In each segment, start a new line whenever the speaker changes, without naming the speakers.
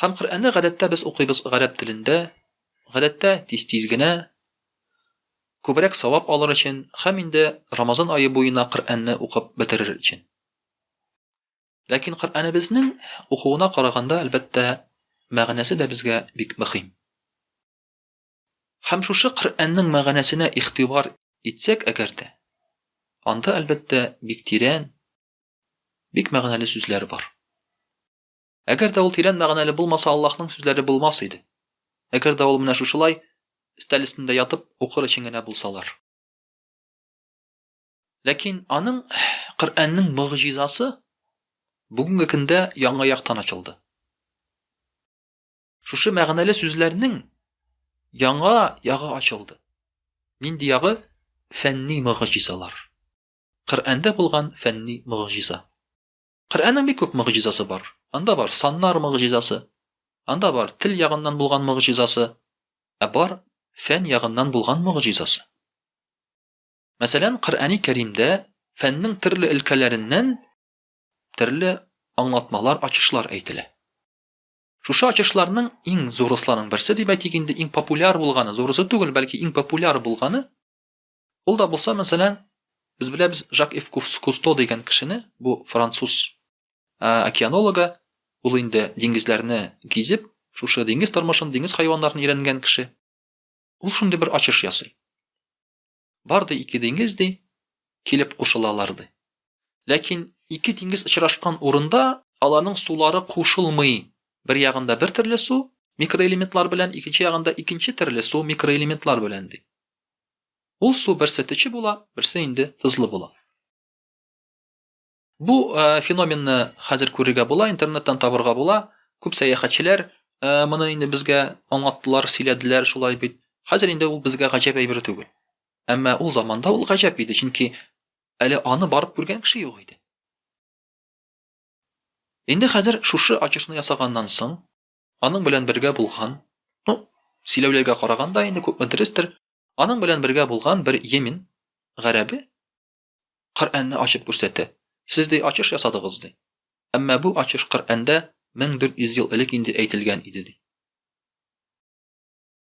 Һәм Коръәнне гадәттә без укыйбыз гарәп телендә, гадәттә тиз-тиз генә, күбрәк савап алыр өчен һәм инде Рамазан ае буена Коръәнне укып бетерер өчен. Ләкин Коръәнебезнең укуына караганда, әлбәттә, мәгънәсе дә безгә бик мөхим. Һәм шушы Коръәннең мәгънәсенә игътибар итсәк әгәр дә, анда, әлбәттә, бик тирән, бик мәгънәле сүзләр бар. Әгәр дә ул тирән мәгънәле булмаса, Аллаһның сүзләре булмас иде. Әгәр дә ул менә шушылай, өстәл өстендә ятып, укыр өчен генә булсалар. Ләкин аның Коръәннең могҗизасы бүгенге көндә яңа яктан ачылды. Шушы мәгънәле сүзләрнең яңа ягы ачылды. Нинди ягы? Фәнни могҗизалар. Коръәндә булган фәнни могҗиза. Коръәннең бик күп могҗизасы бар. Анда бар саннар могҗизасы, анда бар тел ягыннан булган могҗизасы, ә бар фән ягыннан булган могҗизасы. Мәсәлән, Коръәни Кәримдә фәннең төрле өлкәләреннән төрле аңлатмалар, ачышлар әйтелә. Шушы ачышларның иң зурысларның берсе дип әйтик инде, иң популяр булганы, зурысы түгел, бәлки иң популяр булганы, Ул да булса, мәсәлән, без беләбез Жак Ив Кусто дигән кешене, бу француз океанологы, ул инде диңгезләрне гизеп, шушы диңгез тормышын, диңгез хайваннарын өйрәнгән кеше. Ул шундый бер ачыш ясый. Бар ди ике диңгез ди, килеп кушылалар ди. Ләкин ике диңгез очрашкан урында аларның сулары кушылмый. Бер ягында бер төрле су микроэлементлар белән, икенче ягында икенче төрле су микроэлементлар белән ди. Ул су берсе төче була, берсе инде тозлы була. Бу э, феноменны хәзер күрергә була, интернеттан табырга була. Күп сәяхәтчеләр э, моны инде безгә аңлаттылар, сөйләделәр, шулай бит. Хәзер инде ул безгә гаҗәп әйбер түгел. Әмма ул заманда ул гаҗәп иде, чөнки әле аны барып күргән кеше юк иде. Инде хәзер шушы ачышны ясаганнан соң, Аның белән бергә булган, ну, сөйләүләргә караганда инде күпме дөрестер, аның белән бергә булган бер йемен гарәбе Коръәнне ачып күрсәтә. Сез ди ачыш ясадыгыз ди. Әмма бу ачыш Коръәндә 1400 ел элек инде әйтелгән иде ди.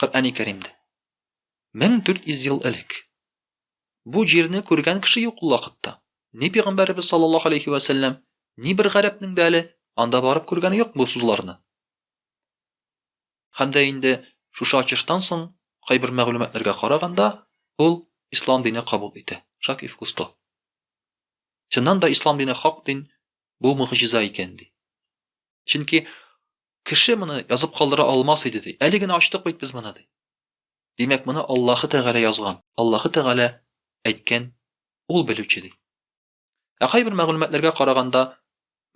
Коръәни Кәримдә. 1400 ел элек. Бу җирне күргән кеше юк ул вакытта. Ни пигамбәребез саллаллаһу алейхи ва сәлләм, ни бер гарәпнең дә әле анда барып күргәне юк бу сузларны. Һәм дә инде шушы ачыштан соң кайбер мәгълүматларга караганда, ул ислам дине кабул итә. Шак и вкусто. Чыннан да ислам дине хак дин, бу мөгъҗиза икән ди. Чөнки Кеше моны язып калдыра алмас иде, ди. Әле генә ачтык бит без моны, ди. Димәк, моны Аллаһы Тәгалә язган, Аллаһы Тәгалә әйткән, Ул белүче, ди. Ә кайбер мәгълүматларга караганда,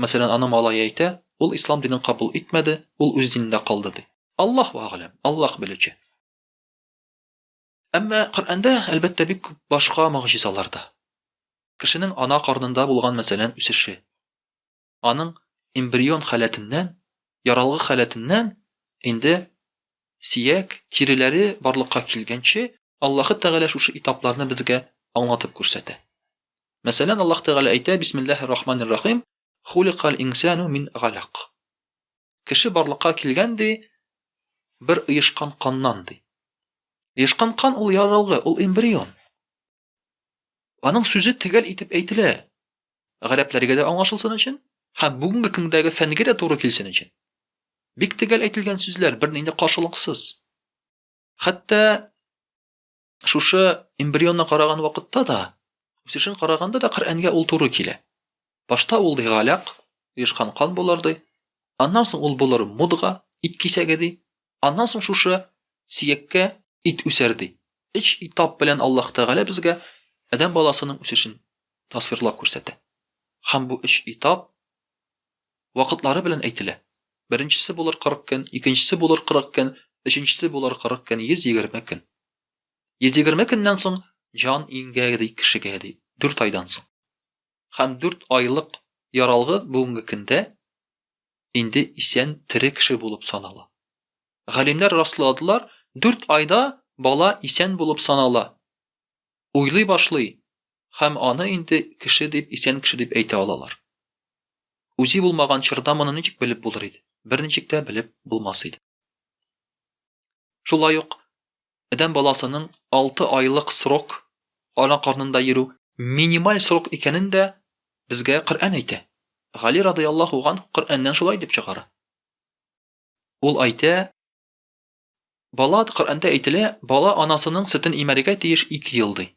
мәсәлән, аның малае әйтә, ул ислам динен кабул итмәде, ул үз динендә калды, ди. Аллаһу әгъләм, Аллаһ белүче. Әмма Коръәндә, әлбәттә, бик күп башка могҗизалар да. Кешенең ана карнында булган, мәсәлән, үсеше. аның эмбрион халәтеннән, яралгы халәтеннән инде сөяк, тиреләре барлыкка килгәнче Аллаһы Тәгалә шушы этапларны безгә аңлатып күрсәтә. Мәсәлән, Аллаһ Тәгалә әйтә, Бисмиллаһир рахманир рахим, хуликаль инсану мин галак. Кеше барлыкка килгән ди, бер оешкан каннан ди. Оешкан кан ул яралгы, ул эмбрион. Аның сүзе төгәл итеп әйтелә. Гарәпләргә дә аңлашылсын өчен һәм бүгенге көндәге фәнгә дә туры килсен өчен. Бик төгәл әйтелгән сүзләр бернинди каршылыксыз. Хәтта шушы эмбрионны караган вакытта да, үсешен караганда да Коръәнгә ул туры килә. Башта ул ди галәк, оешкан кан булыр ди. Аннан соң ул булыр мудга, ит кисәге ди. Аннан соң шушы сияккә ит үсәр, ди. Өч этап белән Аллаһ Тәгалә безгә адәм баласының үсешен тасвирлап күрсәтә. Һәм бу өч этап вакытлары белән әйтелә. Беренчесе булыр 40 көн, икенчесе булыр 40 көн, өченчесе булыр 40 көн, 120 көн. 120 көннән соң җан иңгә, ди, кешегә, ди, дүрт айдан соң. Һәм дүрт айлык яралгы бүгенге көндә инде исән тере кеше булып санала. Галимнәр расладылар, дүрт айда бала исән булып санала, уйлый башлый һәм аны инде кеше дип, исән кеше дип әйтә алалар. Үзе булмаган чорда моны ничек белеп булыр иде? Берничек тә белеп булмас иде. Шулай ук адәм баласының алты айлык срок ана карнында йөрү минималь срок икәнен дә безгә Коръән әйтә. Гали радыяллаһу ган Коръәннән шулай дип чыгара. Ул әйтә, Бала, Коръәндә әйтелә, бала анасының сөтен имәргә тиеш ике ел ди.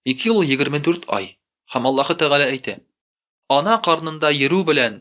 Ике ел ул егерме дүрт ай. Һәм Аллаһы Тәгалә әйтә, Ана карнында йөрү белән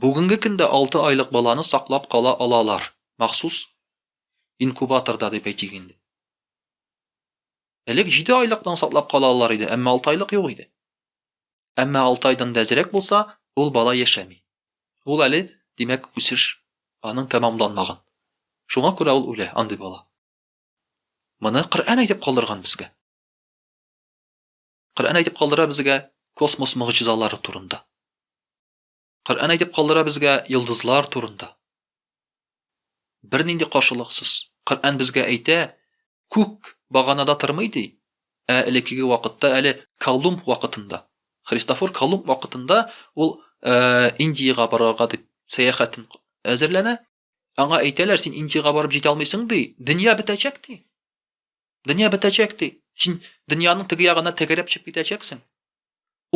Бүгенге көндә алты айлык баланы саклап кала алалар, махсус инкубаторда дип әйтик инде. Элек җиде айлыкны саклап кала алалар иде, әмма алты айлык юк иде. Әмма алты айдан да әзрәк булса, ул бала яшәми. Ул әле, димәк, үсеш аның тәмамланмаган. Шуңа күрә ул үлә, андый бала. Моны Коръән әйтеп калдырган безгә. Коръән әйтеп калдыра безгә космос могҗизалары турында. Коръән әйтеп калдыра безгә йолдызлар турында. Бернинди каршылыксыз. Коръән безгә әйтә, күк баганада тормый ди. Ә элеккеге вакытта әле Колумб вакытында, Христофор Колумб вакытында ул Индиягә барырга дип сәяхәтен әзерләнә. Аңа әйтәләр, син Индиягә барып җитә алмыйсың ди. Дөнья бетәчәк ди. Дөнья бетәчәк ди. Син дөньяның теге ягына тәгәрәп чыгып китәчәксең.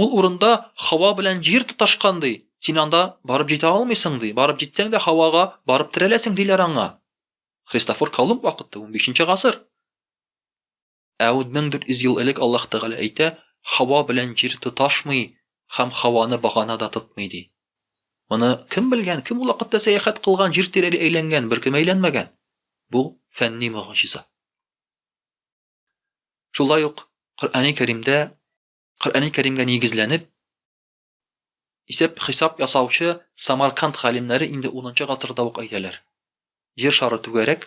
Ул урында һава белән җир тоташкан ди. Син анда барып җитә алмыйсың ди. Барып җитсәң дә һавага барып терәләсең диләр аңа. Христофор Колумб вакыты 15 нче гасыр. Ә 1400 ел элек Аллаһ Тәгалә әйтә, Һава белән җир тоташмый һәм һаваны багана да тотмый, ди. Моны кем белгән, кем ул вакытта сәяхәт кылган, җир тирәли әйләнгән, беркем әйләнмәгән. Бу фәнни могҗиза. Шулай ук Коръәни Кәримдә, Коръәни Кәримгә нигезләнеп, исәп-хисап ясаучы Самарканд галимнәре инде 10 нчы гасырда ук әйтәләр. Җир шары түгәрәк,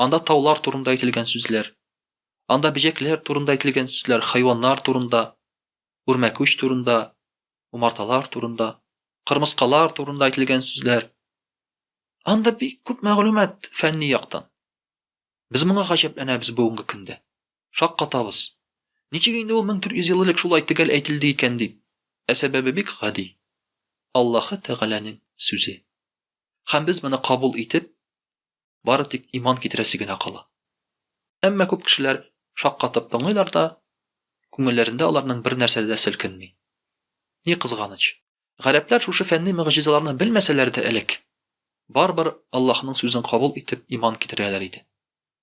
Анда таулар турында әйтелгән сүзләр. Анда бөҗәкләр турында әйтелгән сүзләр, хайваннар турында, үрмәкүч турында, умарталар турында, кырмыскалар турында әйтелгән сүзләр. Анда бик күп мәгълүмат фәнни яктан. Без моңа гаҗәпләнәбез бүгенге көндә. Шаккатабыз. Ничек инде ул 1400 ел элек шулай төгәл әйтелде икән дип? Ә сәбәбе бик гади. Аллаһы Тәгаләнең сүзе. Һәм без моны кабул итеп, бары тик иман китерәсе генә кала. Әмма күп кешеләр шаккатып тыңлыйлар да, күңелләрендә аларның бер нәрсә дә селкенми. Ни кызганыч, гарәпләр шушы фәнни мөгъҗизаларны белмәсәләр дә элек, барыбер Аллаһның сүзен кабул итеп иман китерәләр иде.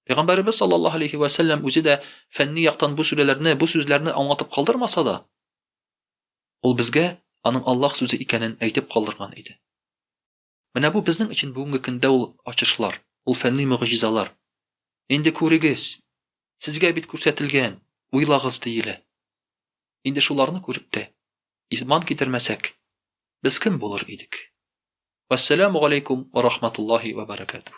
Пәйгамбәребез саллаллаһу алейһи вә сәлләм үзе дә фәнни яктан бу сүрәләрне, бу сүзләрне аңлатып калдырмаса да, ул безгә аның Аллаһ сүзе икәнен әйтеп калдырган иде. Менә бу безнең өчен бүгенге көндә ул ачышлар, ул фәнни могҗизалар. Инде күрегез! Сезгә бит күрсәтелгән, уйлагыз, диелә. Инде шуларны күреп тә, иман китермәсәк, без кем булыр идек? Вәссәламу галәйкүм вә рахматуллаһи вә бәрәкәтүһ.